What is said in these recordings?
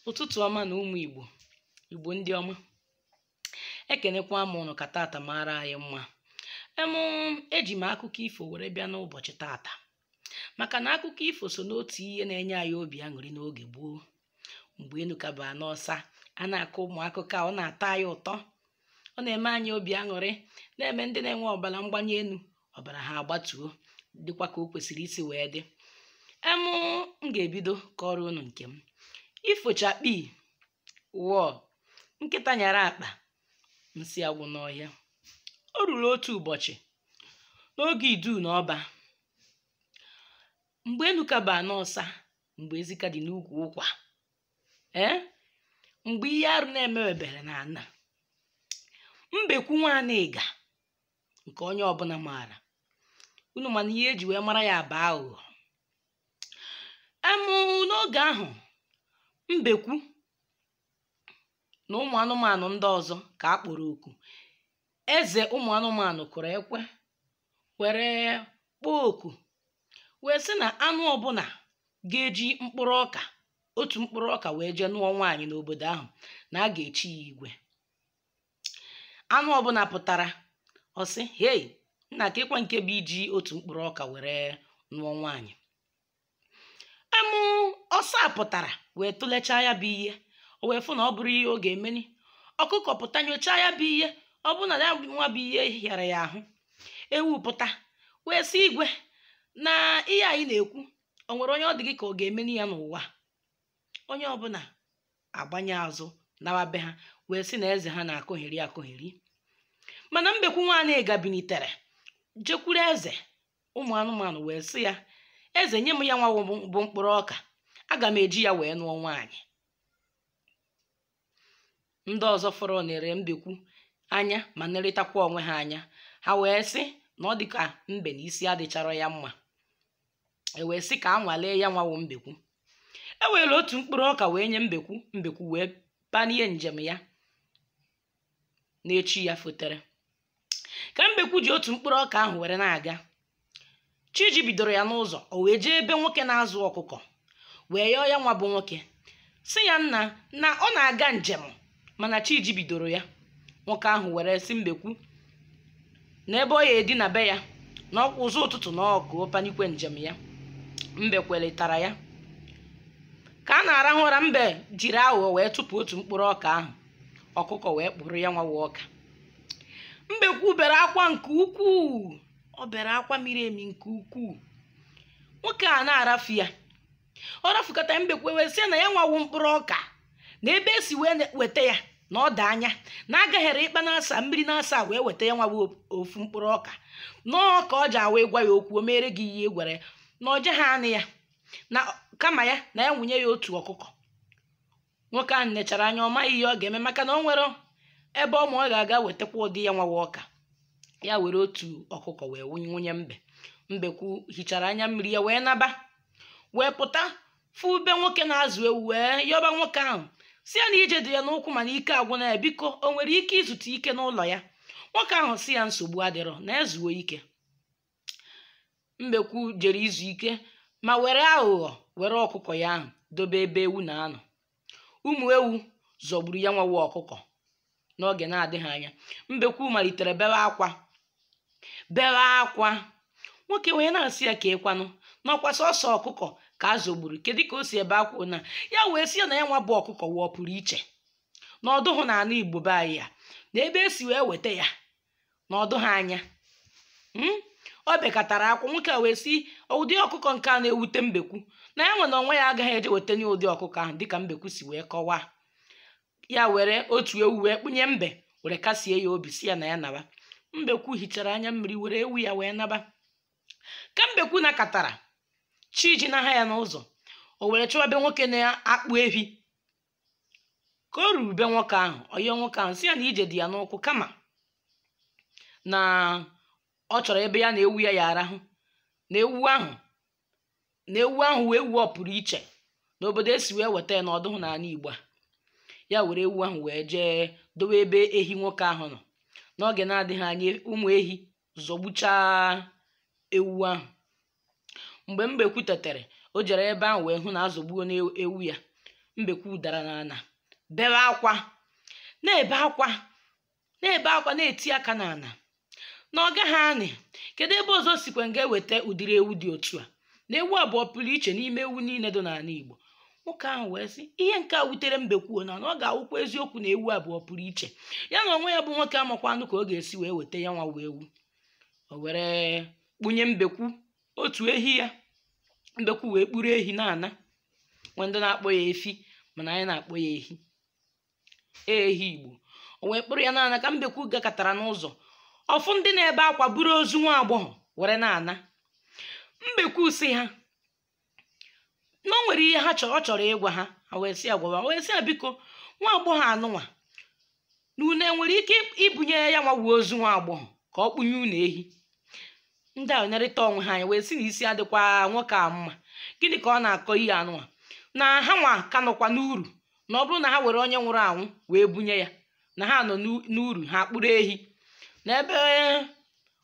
ụtụtụ ọma nụ ụmụ igbo igbo ndị ọma ekenekwa m ụnụ ka tata mara anyị mma em eji m akụkọ ifo were bịa n'ụbọchị tata maka na akụkọ ifo so n'otu ihe na-enye anyị obi aṅụrị n'oge gboo mgbe enu ka bụ ana ọsa a na-akọ ụmụ akụkọ a, ọ na-atọ anyị ụtọ ọ na-eme anyị obi aṅụrị na-eme ndị na-enwe ọbara mgbanye enu ọbara ha agbatuo dịkwa ka o kwesịrị isi wee dị em m ga-ebido kọọrọ unu nke m ifo chakpii wọọ nkịta nyara akpa nsị agwụ n'ọhịa o ruru otu ụbọchị n'oge idu na ọba mgbe enu ka bụ ana ọsa mgbe ezi ka dị n'ukwu ụkwa ee mgbe ihe arụ na-emebebere n'ana mbekwu nwanịga nke onye ọbụna maara unu ma na ihe e ji wee mara ya bụ aghụghọ em n'oge ahụ mbekwu na ụmụ anụmanụ ndị ọzọ ka a kpọrọ oku eze ụmụ anụmanụ kụrụ ekwe were kpọọ oku wee sị na anụ ọbụna ga-eji mkpụrụ ọka otu mkpụrụ ọka wee jee nụọ nwaanyị n'obodo ahụ na a ga-echi ya igwe anụ ọbụna pụtara ọ sị hei nna kedịkwa nke bụ iji otu mkpụrụ ọka were nụọ nwaanyị em ọsa pụtara wee tụlechaa ya bụ ihe o wee fụ na ọ bụrọ ihe ọ ga-emeni ọkụkọ pụta nyochaa ya bụ ihe ọ bụrụ na ya nwa bụ ihe hịara ya ahụ ewu pụta wee sị igwe na ihe a ị na-ekwu o nwere onye ọ dị gị ka ọ ga-emeni ya n'ụwa onye ọbụna agbanye azụ nawa be ha wee sị na eze ha na-akọgheri akọgheri mana mbekwu nwanịga binitere jekwuru eze ụmụ anụmanụ wee sị ya eze nye m ya nwa bụ mkpụrụ ọka aga m eji ya wee nụọ nwaanyị ndị ọzọ fọrọ nere mbekwu anya ma nerịtakwa onwe ha anya ha wee sị na ọ dị ka mbe na isi adịcharọ ya mma e wee sị ka a nwalee ya nwa bụ mbekwu e were otu mkpụrụ ọka wee nye mbekwu mbekwu wee panie njem ya n'echi ya fotere ka mbekwu ji otu mkpụrụ ọka ahụ were na-aga chi jibidoro ya n'ụzọ o wee jee be nwoke na-azụ ọkụkọ wee yọọ ya nwa bụ nwoke sị ya nna na ọ na-aga njem mana chi jibidoro ya nwoke ahụ were sị mbekwu na ebe ọ ya-edina be ya na ọkwa ụzọ ụtụtụ na ọkụ panikwe njem ya mbe kwelitara ya ka a na-arahụ ụra mbe jiri aghụghọ wee tụpụ otu mkpụrụ ọka ahụ ọkụkọ wee kpụrụ ya nwa bụ ọka mbekwu bere akwa nke ukwuu ọ bere akwa miri emi nke ukwuu nwoke a na-arafụ ya ọ rafụkata mbekwu wee sị na ya nwa wụ mkpụrụ ọka na ebe e si wee ne- weta ya na ọ dị anya na a gahere ikpa n'asaa mmiri n'asaa wee weta ya nwa wụ o- ofu mkpụrụ ọka na ọka ọ ja-awụ ị gwa ya okwu o meere gị ihe ị gwara ya na ọ jeghị anụ ya na kama ya na ya wenye ya otu ọkụkọ nwoke ahụ nechara anya ọ maghị ihe ọ ga-eme maka na o nwerọ ebe ọ ma ọ ga-aga wetakwa ụdị ya nwa wụ ọka ya were otu ọkụkọ wee wenye mbe mbekwu hichara anya mmiri ya wee naba wee pụta fụ be nwoke na-azụ ewu wee yọba nwoke ahụ sị ya na ije dị ya n'ụkwụ mana ike agwụna ya biko o nwere ike izutu ike n'ụlọ ya nwoke ahụ sị ya nsogbu adịrọ na ya zuo ike mbekwu jere izu ike ma were aghụghọ were ọkụkọ ya ahụ dobe ebe ewu na-anọ ụmụ ewu zọgburu ya nwa wụ ọkụkọ n'oge na-adịghị anya mbekwu malitere bewe akwa bewe akwa nwoke wee na-asị ya keekwanụ na ọ kwa sọsọ ọkụkọ ka a zọgburu kedu ka o si ebe akwa na ya wee sị ya na ya nwa bụ ọkụkọ wụ ọ pụrụ iche na ọ dụhụ na ala igbo be anyị a na ebe e si wee weta ya na ọ dụ ha anya hmm? o bekatara akwa nwoke a wee sị ụdị ọkụkọ nke a na-ewute mbekwu na ya nwa onwe ya agaghị eje wetanwu ụdị ọkụkọ ahụ dịka mbekwu si wee kọwaa ya were otu ewu wee kpụnye mbe were kasie ya obi sị ya na ya naba mbekwu hichara anya mmiri were ewu ya wee naba ka mbekwu nakatara chi jinaha ya n'ụzọ o were chọwa be nwoke na-akpụ ehi ka o ruru be nwoke ahụ ọ yọọ nwoke ahụ sị ya na ije dị ya n'ụkwụ kama na ọ chọrọ ebe ya na ewu ya ya-arahụ na ewu ahụ na ewu ahụ wụ ewu ọ pụrụ iche n'obodo e si wee weta ya na ọ dụhụ n'ala igbo a ya were ewu ahụ wee jee dowe ebe ehi nwoke ahụ nọ n'oge na-adịghị anya ụmụ ehi zọgbuchaa ewu ahụ mgbe mbekwu tetara o jere ebe ahụ wee hụ na azọgbuona ewu ya mbekwu dara n'ala bewe akwa na-ebe akwa na-ebe akwa na-eti aka n'ala na ọ gaghị anụ kedu ebe ọzọ sikwa ga-eweta ụdịrị ewu dị otu a na ewu a bụ ọ pụrụ iche n'ime ewu niile dị n'ala igbo nwoke ahụ wee sị ihe nke a wutere mbekwu na na ọ ga-awụkwa eziokwu na ewu a bụ ọ pụrụ iche ya na onwe ya bụ nwoke amakwanụ ka ọ ga-esi wee weta ya nwa wụ ewu o were kpụnye mbekwu otu ehi ya mbekwu wee kpụrụ ehi na-ana nwee ndị na-akpọ ya efi mana anyị na-akpọ ya ehi ehi igbo o wee kpụrụ ya na-ana ka mbekwu gakatara n'ụzọ ọ fụ ndị na-ebe akwa buru ozu nwa agbọghọ were na-ana mbekwu si ha na o nwere ihe ha chọrọ ọ chọrọ ịgwa ha ha wee sị ya gwawa o wee sị ha biko nwa agbọghọ anụnwa na unu nwere ike ibunye ya nwa wụ ozu nwa agbọghọ ka ọ kpụnye unu ehi ndị a nerịta onwe ha anya wee si na isi adịkwa nwoke a mma gịnị ka ọ na-akọ ihe anụwa na ha nwa ka nọkwa n'uru na ọ bụrụ na ha were onye nwụrụ anwụ wee bunye ya na ha nọ n'u- n'uru ha kpụrụ ehi na ebe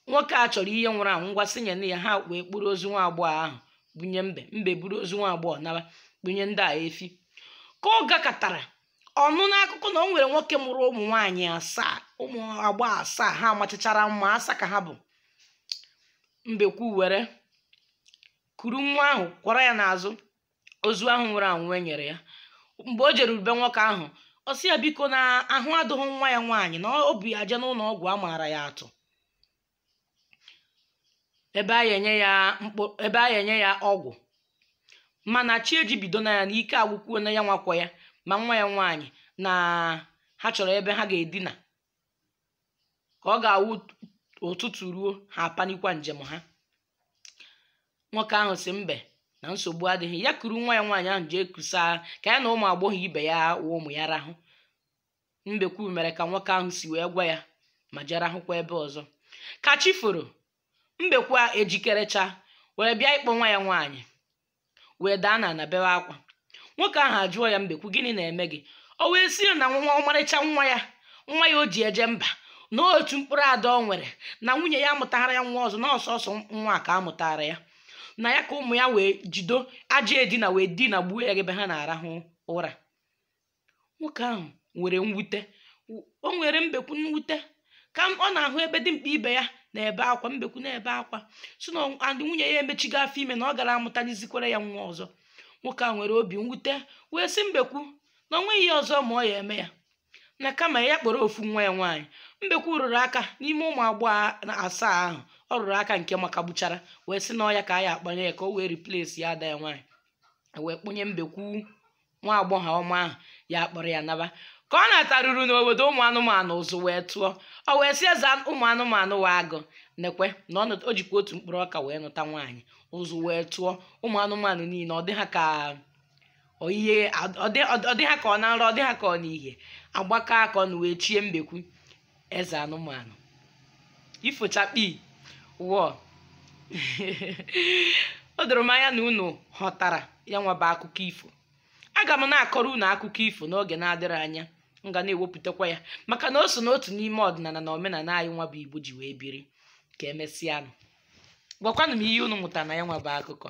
nwoke a chọrọ ihe nwụrụ anwụ ngwa sị nyenụ ya ha wee kpụrụ ozu nwa agbọghọ ahụ bunye mbe mbe buru ozu nwa agbọghọ naba bunye ndị a efi ka ọ gakatara ọ nụ n'akụkọ na o nwere nwoke mụrụ ụmụ nwaanyị asaa ụmụ agbọ asaa ha machachara mma asa ka ha bụ mbekwu were kuru nwa ahụ kwọrọ ya n'azụ ozu ahụ nwụrụ anwụ e nyere ya mgbe o jeruru be nwoke ahụ ọ sị ya biko na ahụ adụghị nwa ya nwaanyị na o bu ya eje n'ụnọ ọgwụ a maara ya atụ ebe a ya-enye ya mkpụ ebe a ya-enye ya ọgwụ mana chi ejibidona ya na ike agwụkwuona ya nwa kwọ ya ma nwa ya nwaanyị na ha chọrọ ebe ha ga-edina ka ọ ga-awụ ụtụtụ ruo ha apanikwa njem ha nwoke ahụ si mbe na nsogbu adịghị ya kuru nwa ya nwaanyị ahụ jee kusa ka ya na ụmụ agbọghọ ibe ya wụ ụmụ ya rahụ Mbekwu mere ka nwoke ahụ si wee gwa ya ma jee rahụkwa ebe ọzọ ka chi foro Mbekwu ejikerecha were bịa ịkpọ nwa ya nwaanyị wee daa n'ana bewe akwa nwoke ahụ ajụọ ya Mbekwu gịnị na-eme gị o wee si na nwa ọmarịcha nwa ya nwa ya o ji eje mba na otu mkpụrụ ada o nwere na nwunye ya amụtara ya nwa ọzọ na ọ sọsọ nwa a ka a mụtaara ya na ya ka ụmụ ya wee jido ajọ edina wee dinagbuo ya ebe ha na-arahụ ụra nwoke ahụ nwere mwute o nweere mbekwu mwute ka ọ na-ahụ ebe dimkpa ibe ya na-ebe akwa mbekwu na-ebe akwa si na nwunye ya emechigo afọ ime na ọ gara amụtanizikwara ya nwa ọzọ nwoke a nwere obi mwute wee sị mbekwu na ọ nweghị ihe ọzọ ma ọ ya eme ya na kama ya kpọrọ ofu nwa ya nwaanyị mbekwu rụrụ aka n'ime ụmụ agbọghọ na asaa ahụ ọ rụrụ aka nke makagbuchara wee sị na ọ ya ka a ya-akpọnye ya ka o wee replace ya ada ya nwaanyị wee kpọnye mbekwu nwa agbọghọ ọma ahụ ya kpọrọ ya naba ka ọ nataruru n'obodo ụmụ anụmanụ ụzụ wee tụọ o wee si eze ụmụ anụmanụ wụ agụ nekwe na ọ nụt- o jikwa otu mkpụrụ ọka wee nụta nwaanyị ụzụ wee tụọ ụmụ anụmanụ niile ọ dị ha ka ọ ihe ọ dị- ọ dị ha ka ọ na nrọ ọ dị ha ka ọ n'ihe agbakọ aka ọnụ wee chie mbekwu eze anụmanụ ifo chakpii wọọ o doro m anya na unu ghọtara ya nwa bụ akụkọ ifo aga m na-akọrọ unu akụkọ ifo n'oge na-adịghị anya m ga na-ewepụtakwa ya maka na o so n'otu n'ime ọdịnala na omenala anyị nwa bụ igbo ji wee biri ka emesịanụ gwakwanụ m ihe unu mụtara na ya nwa bụ akụkọ